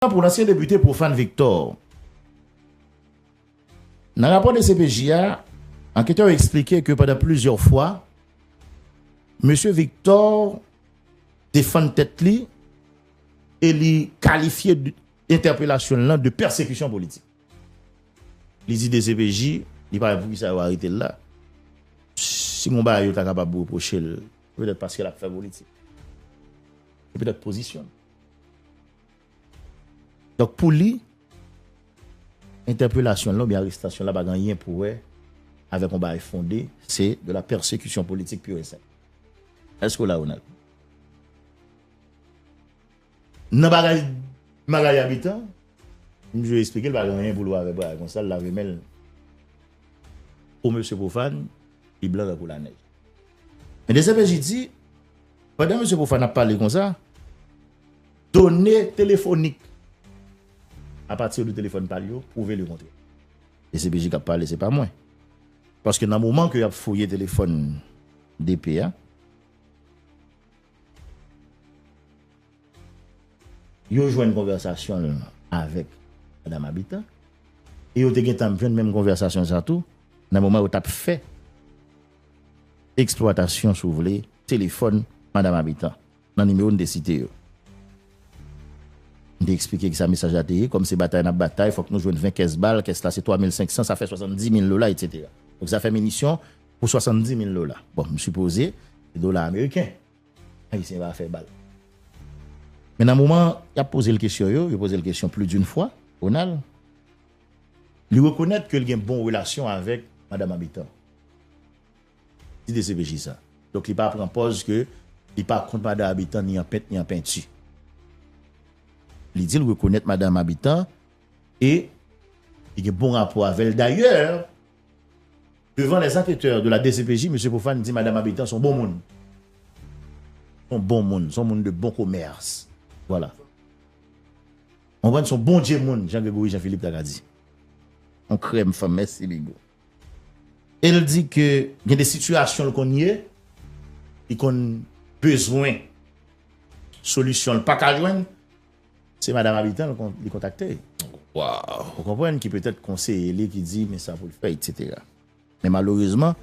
Tan pou lansyen depite Prophane Victor. Nan rapò dcpj a, anketè yo eksplike ke pandan plizyè fwa, Mesye Victor defann tèt li e li kalifye entèpelasyon l lan de pèsekisyon politik. Li di dcpj li pa wè pou kisa yo arete l la, si gon bagay yo ta kapab repwoche l, se petèt paske l ap fè politik. Se petèt pozisyon l. Donk pou li, entèpelasyon l lan oubyen arestasyon l la pa gen anyen pou wè avèk yon bagay fonde, se de la pèsekisyon politik pur et simple. Èske w la Ronald? Nan bagay Magalie Habitant, m toujou esplike l pa gen anyen pou l wè avèk bagay konsa, l lave men l o mesye Profane, li blan tankou lanèj. Men dcpj di. Pandan Mesye Profane ap pale konsa, done telefonik a pati de telefòn pa li yo pwouve le kontrè. Dcpj k ap pale, se pa mwen. Paske nan moman ke y ap fouye telefòn DP a, yo jwenn konvèsasyon l avèk Madam Habitant e yo te gentan ap jwenn menm konvèsasyon sa tou nan moman yo t ap fè Eksplwatasyon si w vle, telefòn Madam Habitant nan nimewo n te site yo. N te eksplike kisa mesaj la te ye, kòm se batay n ap batay, fòk nou jwenn 20 kès bal, kès la se 3 mil 500, sa fè 70 mil dola, etsetera. Donk sa fè minisyon pou 70 mil dola. Bon, m sipoze se dola ameriken. Ayisyen pa fè bal. Men nan moman y ap poze l kesyon yo, yo poze l kesyon pli din fwa, Ronald. Li rekonèt ke li gen bon relasyon avèk Madam Habitant. Ti dcpj sa. Donk li pa pran pòz ke li pa kont Madan Habitant ni an pent ni an penti. Li di li rekonèt Madam Habitant e li gen bon rapò avè l. Dayè, devan les anketè de la dcpj, Mesye Prophane di Madam Habitant son bon moun. Son bon moun, son moun de bon komèrs. Vwala. Konprann son bondye moun jan Gregory Jean Philippe ta ka di. On krèm fanm mèsi bigo. El di ke gen de sitiyasyon l konn ye, li konn bezwen solisyon l paka jwenn, se madam Habitant li kontakte. Ou konprann ki petèt konseye li ki di men sa pou l fè etc. Men malerezman.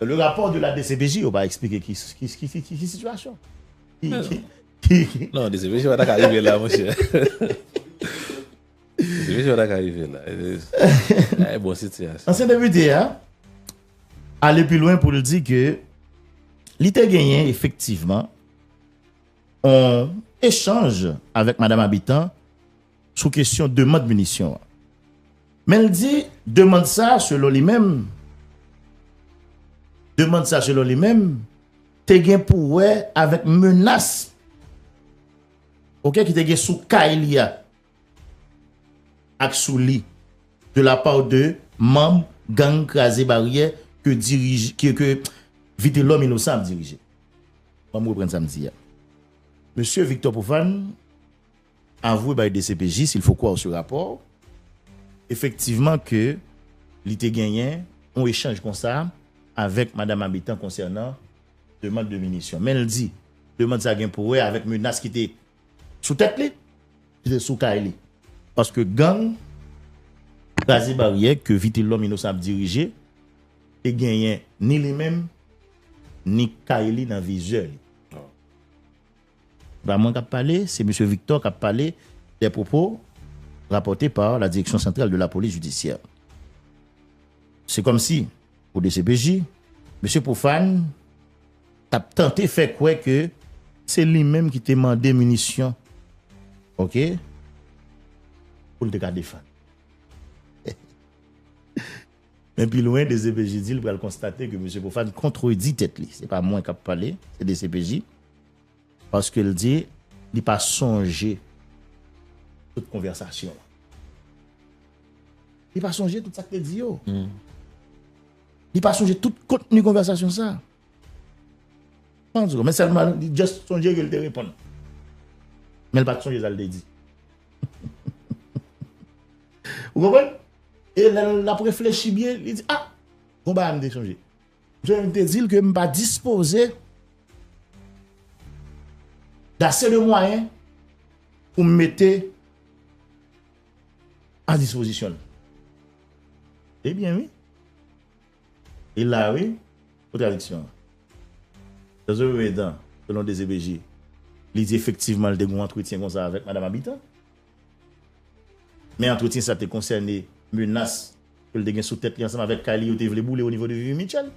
Le rapport de la dcpj yo pa explike ki situation. Non dcpj pa ta ka rive la monche. Dcpj pa ta ka rive la. La e bon situation. Ansyen depite a ale pi lwen pou l di ke li te genyen efektivman on echanj avèk madam Habitant. sou kesyon demand minisyon an. Men l di demand sa a selon li menm, demand sa a selon li menm, te gen pou wè avèk menas ok ki te gen sou kay li a ak sou li de la part de manm gang kraze baryè ke dirije, ke Vitelòm Inosan ap dirije. Ban m reprann sa m di a. Mesye Victor Prophane Avwe bay dcpj s'il faut croire ce rapport effectivement ke li te genyen yon echanj konsa avèk Madam Habitant konsènan demand de minisyon. Men l di demand sa gen pou wè avèk menas ki te sou tèt li, ki te sou kay li. Paske gang Kraze Baryè ke Vitelhomme Innocent ap dirije te genyen ni li menm ni kay li nan vizè li. Se pa mwen k ap pale, se Mesye Victor k ap pale, des propos rapportes par la Direction Centrale de la Police Judiciaire. Se kòm si, pou dcpj, Mesye Prophane t ap tante fè kwè ke se li menm ki te mande minisyon, ok, pou l te ka defann. Men pi lwen, dcpj di l pral konstate ke Mesye Prophane kontredi tèt li. Se pa mwen k ap pale, se dcpj. Paske l di li pa sonje tout konvèsasyon an. Li pa sonje tout sa k te di yo. Li pa sonje tout kontni konvèsasyon sa a. Men sèlman li just sonje ke l te reponn. Men l pa t sonje sa l te di. Ou konprann? E lè l ap reflechi byen, li di, ah! Gon bagay m te sonje. Jan m te di l ke m pa dispoze dase de mwayen pou m mete a dispozisyon l. E byen wi. E la wi kontradiksyon an. Jan Zoe voye dan selon dcpj li di efektivman l te gen yon antretyen konsa avèk Madam Habitant. Men antretyen sa te konsène menas. Ke l te gen sou tèt li ansanm avèk kay li yo te vle boule o nivo de Vivi Mitchell.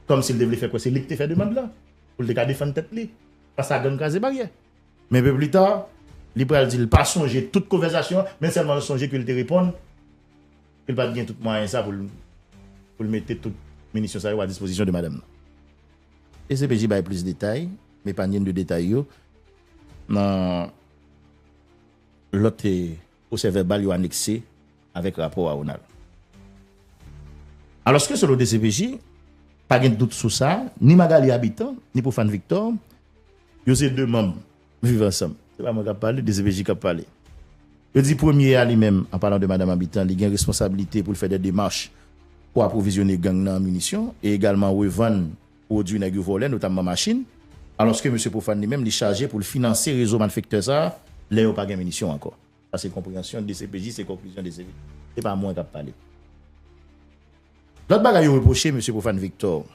Kòm si l te vle fè kwè se li ki te fè demand lan, pou l te ka defann tèt li fas a gang kraze baryè. Men pe pli ta, li pral di l pa sonje tout konvèsasyon an, men sèlman l sonje ke l te reponn ke l pa t gen tout mwayen sa pou l mete tout minisyon sa yo a dispozisyon de madanm nan. Dcpj bay plis detay, m epanyen de detay yo nan lòt. Pwosèvèbal yo anekse avèk rapò a Ronald. Alòske selon dcpj, pa gen dout sou sa, ni Magalie Habitant, ni Prophane Victor, yo se 2 manm Viv Ansanm. Se pa mwen kap pale, dcpj kap pale. Yo di premye a li menm, an palan de Madam Habitant, li gen responsabilite pou l fè dè demach pou apwovizyone gang nan an minisyon e egalman revann pwodui nèg yo vòlè, notamman machin, alòske mesye Prophane li menm li chaje pou l finanse rezo malfektè sa a lè yo pa gen minisyon ankò. Sa se konpreyansyon dcpj, se konklizyon dcpj, se pa mwen k ap pale. Lòt bagay yo repwoche mesye Prophane Victor,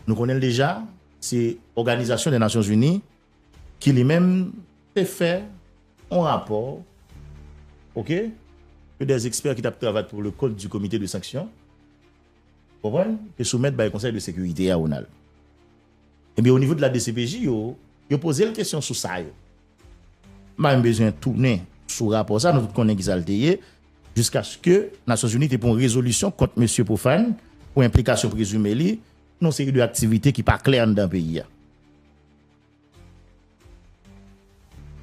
nou konnen l deja, se òganizasyon dè Nasyon Zini ki li menm te fè yon rapò ok, ke dè ekspè ki t ap travay pou le kont di komite de sanksyon Konprann ke sou mèt bay konsèy de sekirite a Ronald. Ebyen o nivo de la dcpj yo, yo pozel kesyon sou sa yo. M pa menm bezwen tounen sou rapò sa nou tout konnen kisa l te ye jiskaske Nasyon Zini te pran rezolisyon kont mesye Profane pou enplikasyon prezime li nan yon seri de aktivite ki pa klè anndan peyi a.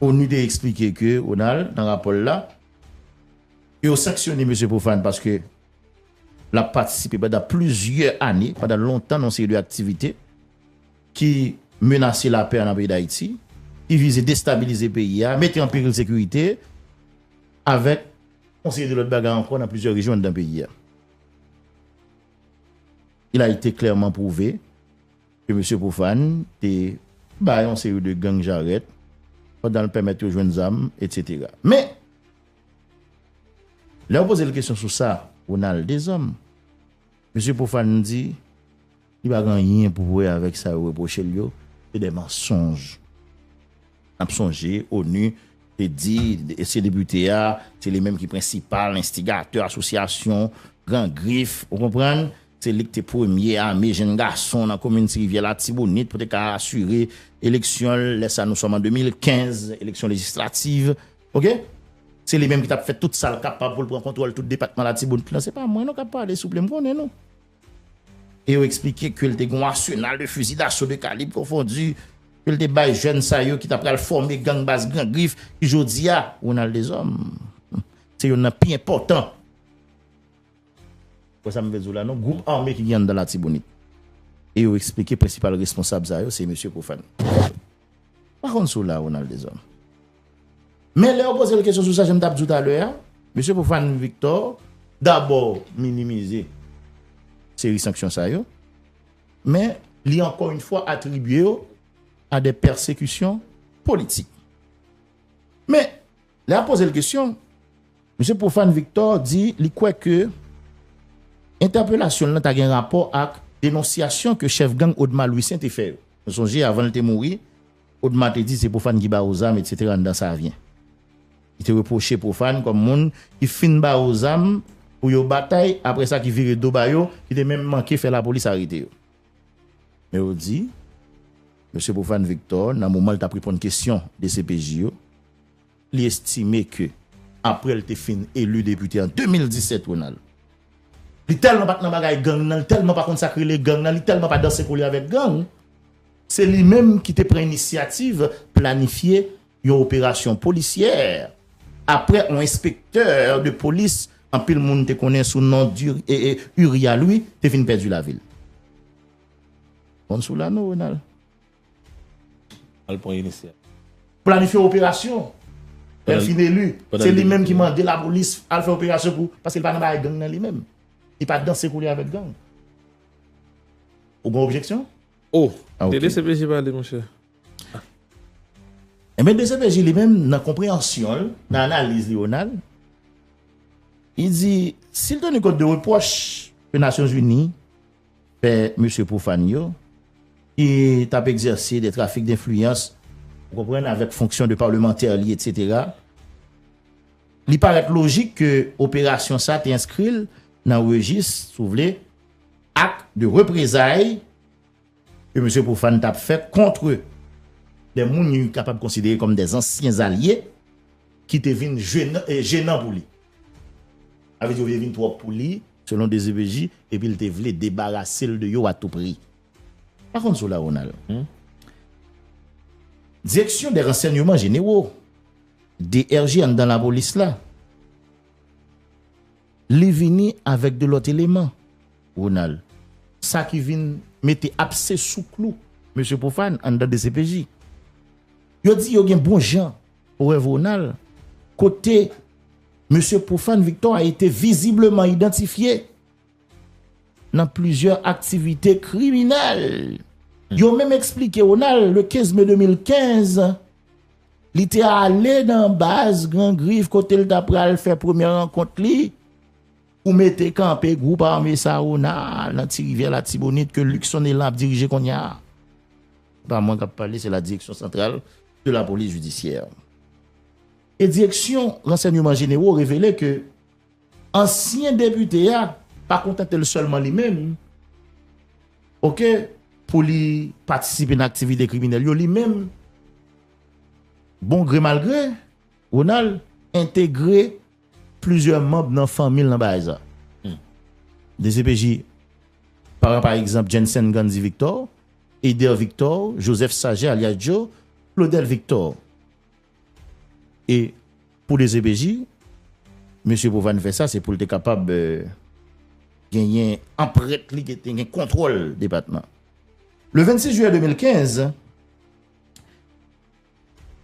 Onu te eksplike ke Ronald nan rapò l la, ke yo sanksyone Mesye Prophane paske l ap patisipe pandan plizyè ane, pandan lontan nan yon seri de aktivite ki menase lapè an nan peyi Dayiti, ki vize destabilize peyi a, mete an peril sekirite, avèk yon seri de lòt bagay ankò nan plizyè rejyon anndan peyi a. Il a ete klèman pwouve. ke Mesye Profane te ba yon seri de gang jarèt pandan l pèmèt yo jwenn zam, etsetera. Men, lè yo poze l kesyon sou sa, Ronald Deshommes, Mesye Profane di li pa gen anyen pou wè avèk sa yo repwoche l yo, se de mansonj. N ap sonje onu te di se depite a, se li menm ki prensipal enstigatè asosyasyon Gran Grif, ou konprann, se li ki te premye ame jenn gason nan komin Ti Rivyè Latibonit pou te ka asire eleksyon l, lè sa nou sòm an 2015, eleksyon lejislativ, ok. Se li menm ki t ap fè tout sa l kapab pou l pran kontwòl tout depatman Latibonit lan. Se pa mwen nou k ap pale souple, m konnen nou. E yo eksplike ke li te gen yon asenal de fuzi daso de kalib konfondi ke li te bay jèn sa yo ki ta pral fòme gang Baz Gran Grif ki jodi a, Ronald Deshommes, se youn nan pi enpòtan. Wè sa m vle di w la non? Gwoup ame ki gen anndan Latibonit. E yo eksplike prensipal responsab sa yo se mesye Profane. M pa konn si w la, Ronald Deshommes. Men lè yo poze l kesyon sou sa jan m t ap di w talè a, mesye Prophane Victor dabò minimize seri sanksyon sa yo, men li ankò yon fwa atribye yo a de pèsekisyon politik. Men, lè y ap poze l kesyon, mesye Prophane Victor di li kwè ke entèpelasyon l lan ta gen rapò ak denonsyasyon ke chèf gang Odma Louissaint te fè yo. Nou sonje avan l te mouri, Odma te di se Profane ki ba yo zam etc anndan Savyen. Li te repwoche Profane kòm moun ki fin ba yo zam pou yo batay aprè sa ki vire do ba yo, ki te menm manke fè lapolis arete yo. Men yo di, Mesye Profane Victor nan moman li t ap reponn kesyon dcpj yo, Li estime ke apre l te fin eli depite an 2017 Ronald, li tèlman pa t nan bagay gang nan, li tèlman pa konn sa k rele gang nan, li tèlman pa danse kole avèk gang, se li menm ki te pran inisyativ planifye yon operasyon polisyè apre yon enspektè de polis anpil moun te konnen sou non Uria Louis te fin pèdi lavi l. Bon sou la nou Ronald. Al pran inisyativ. Planifye operasyon. Lè l fin eli, se li menm ki mande lapolis al fè operasyon pou. Paske li pa nan bagay gang nan li menm. Li pa danse kou li avèk gang. Ou gen objeksyon? O! De dcpj pale monchè. Enben dcpj li menm nan konpreyansyon l, nan analiz li Ronald, li di, sil tenu kont de repwòch ke Nasyonzini. Fè mesye pwofàn yo, ki t ap egzèse de trafik denfliyans, ou konprann, avèk fonksyon de palmantè li etsetera, li parèt lojik ke operasyon sa te enskri l nan rejis, si w vle, ak de reprezay ke mesye pwofàn t ap fè kontre de moun li kapab konsidere kòm de zansyen zalye ki te vin jenan pou li. Sa vle di yo te vin twòp pou li. Selon dcpj, epi l te vle debarase l de yo a tou pri. Pa konn si w la Ronald. Direksyon dè ransènyeman jenero, DRG anndan lapolis la, li vini avèk 2 lòt eleman Ronald. Sa ki vin mete apse sou klou mesye Prophane anndan dcpj. Yo di yo gen bon jan Rev Ronald, kote Mesye Profane Victor a ete vizibleman idantifye nan plizyè aktivite kriminèl. Yo menm eksplike Ronald, le 15 me 2015, li te ale nan baz Gran Grif kote li ta pral fè premye rankont li, Pou mete kanpe gwoup ame Sahona a nan Ti Rivyè Latibonit ke Luckson Elan ap dirije kounye a. Se pa mwen k ap pale, se la Direction Centrale de la Police Judiciaire. E Direksyon Ransènyman Jenero revele ke ansyen depite a pa kontante l sèlman li menm ok pou li patisipe nan aktivite kriminèl yo, li menm bon gre mal gre Ronald entegre Plizyè manb nan fanmi l nan bagay sa. Dcpj pran pa egzanp Jensen Gandy Victor, Eder Victor, Joseph Saget alyas Djo, Claudel Victor. E pou dcpj, mesye Provane fè sa se pou l te kapab genyen anprent li, te gen kontwòl depatman. Le 26 jiyè 2015,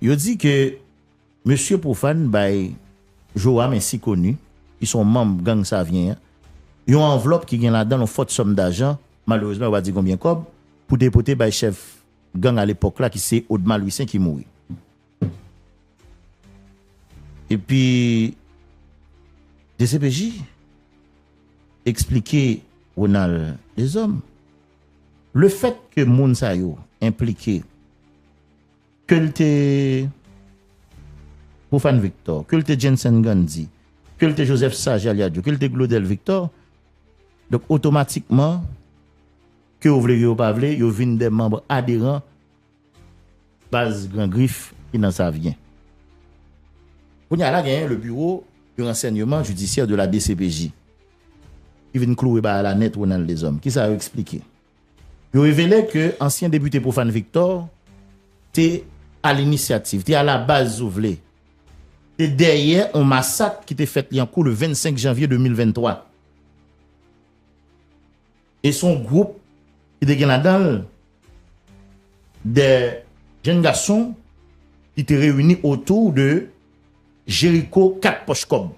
Yo di ke Mesye Profane bay Joram ensi koni, ki se yon manm gang Savyen an, yon anvlòp ki gen ladan l yon fòt sòm dajan, malerezman yo pa di konbyen kòb, pou depote bay chèf gang alepòk la ki se Odma Lwisen ki mouri. Epi dcpj eksplike Ronald Deshommes, lefèt ke moun sa yo enplike, ke l te Profane Victor, ke l te Jensen Gandhi, ke l te Joseph Sage Aliadjo, ke l te Glodel Victor, donk otomatikman, ke yo vle ke yo pa vle, yo vin de manbre aderan baz Gran Grif ki nan Savyen. Kounye a la genyen le Buro de Rensenyeman Jidisyè de la DCPJ ki vin klouwe bagay la nèt Ronald Deshommes. Kisa yo eksplike? Yo revele ke ansyen depite Prophane Victor te a l'initiative, te a la base si w vle, te dèyè yon masak ki te fèt Lyankou le 25 janvye 2023. E se yon gwoup ki te gen ladan l de jenn gason ki te reyini otou de Jericho 4 pòch kòb.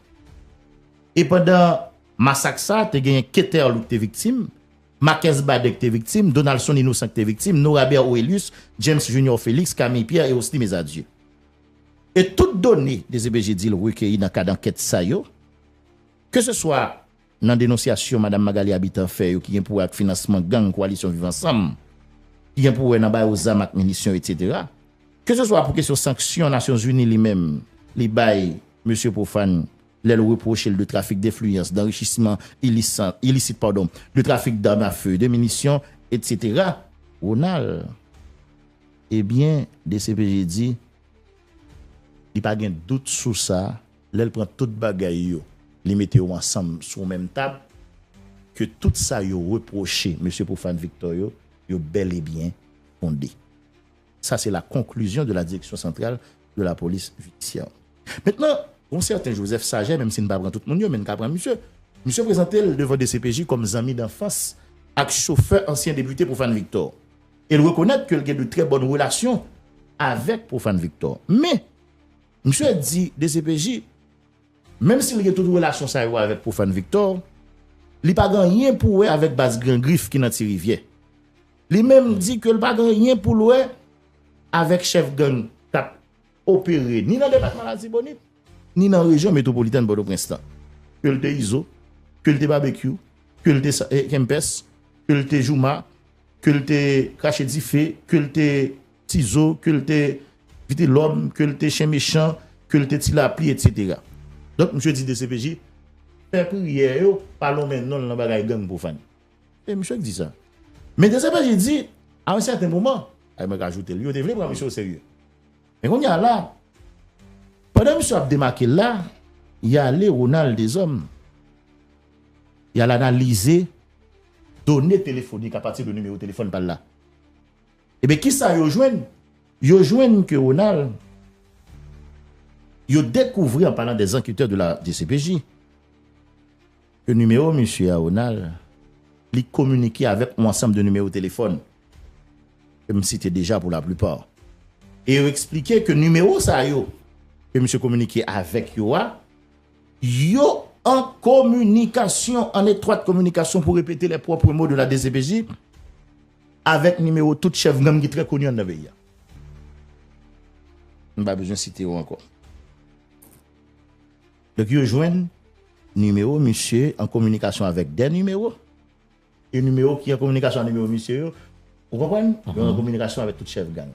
E pandan masak sa, te gen Keterl ki te viktim. Marquez Baden ki te viktim, Donaldson Innocent ki te viktim, Norabert Orelius, James Junior Felix, Camille Pierre et Osny Mesadieu. E tout done dcpj di l rekeyi nan kad ankèt sa yo, ke se swa nan denonsyasyon Madam Magalie Habitant fè yo ki gen pou wè ak finansman gang Koalisyon Viv Ansanm, ki gen pou wè nan ba yo zam ak minisyon etc. Ke se swa pou kesyon sanksyon Nasyonzini li menm li bay Mesye Prophane lè l repwoche l de trafik denfliyans, danrichisman ilisit, de trafik dam a fe, de minisyon, etsetera. Ronald, Ebyen, dcpj di li pa gen dout sou sa, lè l pran tout bagay yo, li mete yo ansanm sou menm tab, ke tout sa yo repwoche Mesye Profane Victor yo, yo bèlebyen fonde. Sa se la konklizyon de la Direksyon Santral de la Polis Jidisyè. Mentnan, yon sèten Joseph Saget, menm si n pa pran tout moun yo, men n ka pran misye, misye prezante l devan dcpj kòm zanmi danfans ak chofè ansyen depite Prophane Victor e l rekonèt ke l gen de trè bòn relasyon avèk Prophane Victor. Men, misye di dcpj, menm si l gen tout relasyon sa yo avèk Prophane Victor, li pa gen anyen pou wè avèk baz Gran Grif ki nan Ti Rivyè. Li menm di ke l pa gen anyen pou l wè avèk chèf gang k ap opere ni nan depatman Latibonit, ni nan rejyon metwopolitèn Pòtoprens lan. Ke l te Izo, ke l te Babekyou, ke l te Kempès, ke l te Jouma, ke l te Krache Dife, ke l te Tizo, ke l te Vitelòm, ke l te Chen Mechan, ke l te Ti Lapli, etsetera. Donk, msye di dcpj, fè priyè yo pa lonmen non l nan bagay gang pwofàn. E misye k di sa. Men dcpj di, a yon sèten moman, e mwen ka ajoute l, yo te vle pran misye oserye. Men kounye a la, pandan misye ap demake l la, y ale Ronald Deshommes, y al analize done telefonik apati de nimewo telefòn pa l la. Ebyen ki sa yo jwenn? Yo jwenn ke Ronald, yo dekouvri an palan dèzanketè de la dcpj, Ke nimewo misye a Ronald, li kominike avèk on ansanm de nimewo telefòn, ke m site deja pou laplipa. E yo eksplike ke nimewo sa yo, ke misye kominike avèk yo a, yo an kominikasyon, an etwat kominikasyon pou repete lè pwopre mo de la dcpj, avèk nimewo tout chèf gang ki trè koni anndan peyi a. M pa bezwen site yo ankò. Donk yo jwenn nimewo misye an kominikasyon avèk 2 nimewo, e nimewo ki an kominikasyon ak nimewo misye yo, ou konprann, yo an kominikasyon avèk tout chèf gang.